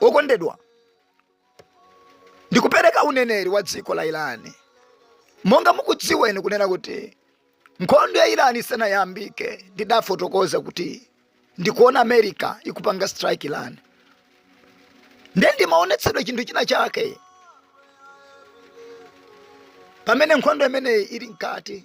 okondedwa ndikupereka uneneri wa dziko la irani monga mukudziweni kunena kuti nkhondo ya irani isanayambike ndidafotokoza kuti ndikuona america ikupanga strike irani nde ndimaonetsedwa chinthu china chake pamene nkhondo imeneyi ili mkati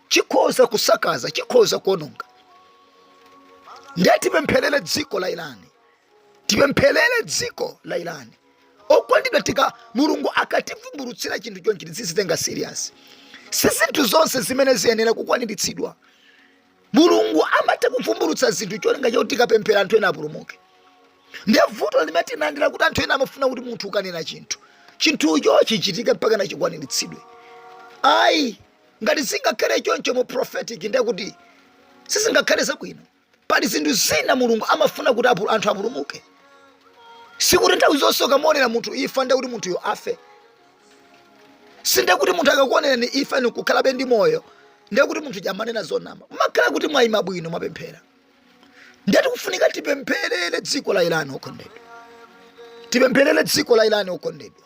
chikhoza kusakaza chikhoza kuononga ndiye tipempherere dziko la irani tipempherere dziko la irani okondedwa tika mulungu akativumbulutsira chinthu chonchi tizitenga serious si zinthu zonse zimene ziyenera kukwaniritsidwa mulungu amatha kuvumbulutsa zinthu cholinga choti tikapemphera anthu ena apulumuke ndiye vuto limene tinalo ndi lakuti anthu ena amafuna kuti munthu ukanena chinthu chinthucho chichitike mpaka nachikwaniritsidwe ayi ngati zingakhale choncho mu prophetic ndiye kuti sizingakhale zabwino pali zinthu zina mulungu amafuna kuti apu- anthu apulumuke sikuti nthawi zonse ukamuonera munthu ifa ndiye kuti munthuyo afe sinde kuti munthu akakuonerani ifa ni kukhalabe ndi moyo ndiye kuti munthu uja amanena zonama makhala kuti mwayima bwino mwapemphera ndiye tikufunika tipempherere dziko la irani okondedwa tipempherere dziko la irani okondedwa